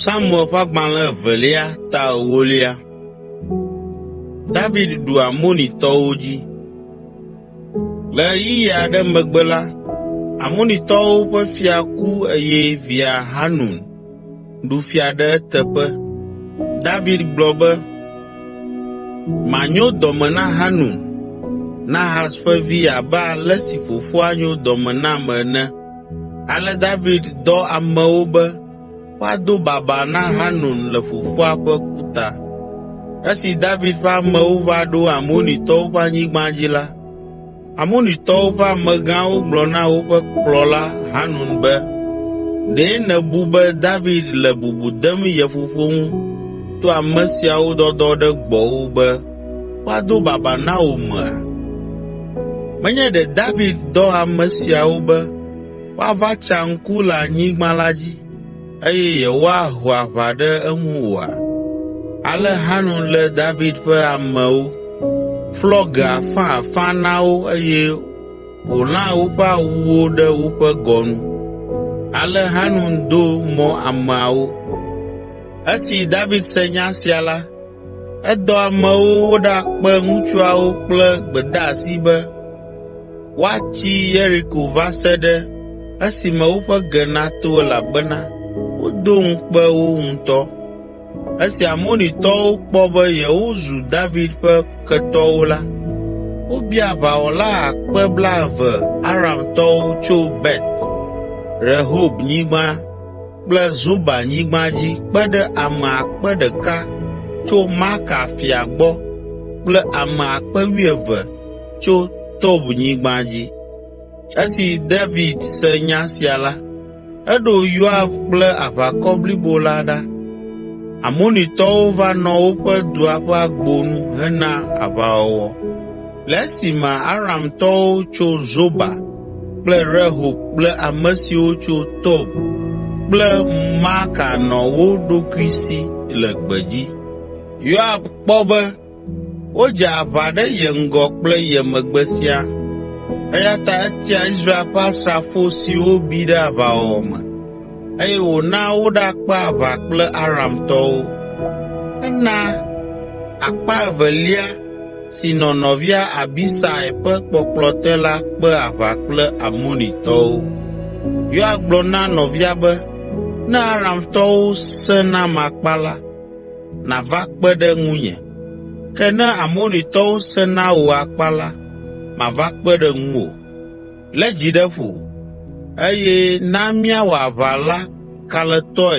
Samuel ƒe agbalẽ evelia ta ewolia. David ɖu Amonitɔwo dzi. Le ɣeyiɣi aɖe megbe la, Amonitɔwo ƒe fia ku eye via Hanun ɖu fia ɖe eteƒe. David gblɔ be, Manyo dɔme na Hanun, Nahas ƒe vi abe ale si fofoa nyo dɔme nam ene. Ale David dɔ amewo be woado baba na Hanun le fofoa ƒe ku ta. Esi David ƒe amewo va ɖo Amonitɔwo ƒe anyigba dzi la, Amonitɔwo ƒe amegãwo gblɔ na woƒe kplɔla Hanun be, “Ɖe nèbu be David le bubu dem ye fofo ŋu to ame siawo dɔdɔ ɖe gbɔwò be woado babaa na wò mea? Menye ɖe David dɔ ame siawo be woava tsa ŋku le anyigba la dzi eye yewoaho aʋa ɖe eŋu oa? Ale Hanun lé David ƒe amewo, ƒlɔ ge afãafã na wo eye wòlã woƒe awuwo ɖe woƒe gɔnu. Ale Hanun do mɔ ameawo. Esi David se nya sia la, Edɔ amewo woɖakpe ŋutsuawo kple gbedeasi be woatsi Yeriko va se ɖe esime woƒe ge nato elabena wodo ŋukpe wo ŋutɔ. Esi Amonitɔwo kpɔ be yewozu David ƒe ketɔwo la, wobia aʋawɔla akpe blaeve Aramtɔwo tso Bet Rehobnyigba kple Zoba nyigba dzi kpe ɖe ame akpe ɖeka (1,000) tso Maaka fia gbɔ kple ame akpe wuieve (12,000) tso Tob nyigba dzi. Esi David se nya sia la, eɖo Yoab kple aʋakɔ blibo la ɖa. Amonitɔwo va nɔ woƒe dua ƒe agbo nu hena aʋawɔwɔ. Le esime Aramtɔwo tso Zoba kple Rehob kple ame siwo tso Tob kple Maaka nɔ wo ɖokui si le gbedzi. Yoab kpɔ be wodze aʋa ɖe ye ŋgɔ kple ye megbe siaa, eya ta etia Israel ƒe asrafo siwo bi ɖe aʋawɔwɔ me eye wòna woɖakpe aʋa kple Aramtɔwo. Ena akpa evelia si nɔ nɔvia Abisai ƒe kpɔkplɔ te la kpe aʋa kple Amonitɔwo. Yoab gblɔ na nɔvia be, “Ne Aramtɔwo sẽ nam akpa la, nàva kpe ɖe ŋunye, ke ne Amonitɔwo sẽ na wò akpa la, mava kpe ɖe ŋuwò. Lé dzi ɖe ƒo, eye na míawɔ aʋa la kalẽtɔe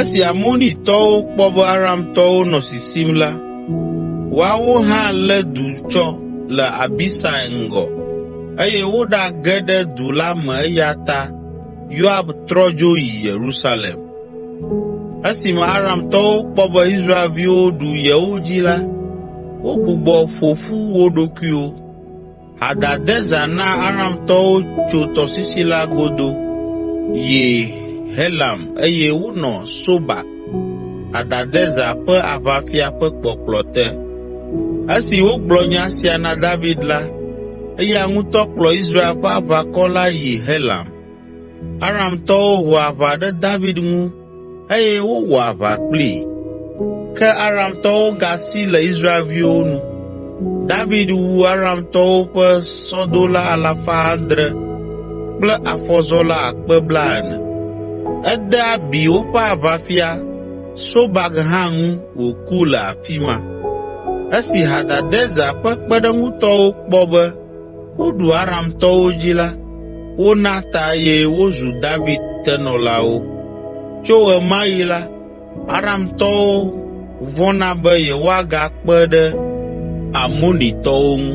Esi Amonitɔwo kpɔ be Aramtɔwo nɔ sisim la, woawo hã lé du tsɔ le Abisai ŋgɔ eye woɖage ɖe du la me eya ta Yoab trɔ dzo yi Yerusalem. Esime Aramtɔwo kpɔ be Israelviwo ɖu yewo dzi la, wogbugbɔ ƒo ƒu wo ɖokuiwo. Hadadezer na Aramtɔwo tso tɔsisi la godo yi Helam eye wonɔ Sobak, Hadadezer ƒe aʋafia ƒe kpɔkplɔ te. Esi wogblɔ nya sia na David la, eya ŋutɔ kplɔ Israel ƒe aʋakɔ la yi Helam. Aramtɔwo ho aʋa ɖe David ŋu eye wowɔ aʋa kplii. Ke Aramtɔwo gasi le Israelviwo nu. David wu Aramtɔwo ƒe sɔdola alafa adre (700) kple afɔzɔla akpe blaene (40,000). Ede abi woƒe aʋafia, Sobak hã ŋu wòku le afi ma. Esi Hadadezer ƒe kpeɖeŋutɔwo kpɔ be Woɖu Aramtɔwo dzi la, wona ta eye wozu David tenɔlawo. Tso ɣe ma ɣi la, Aramtɔwo vɔ̃na be yewoagakpe ɖe Amonitɔwo ŋu.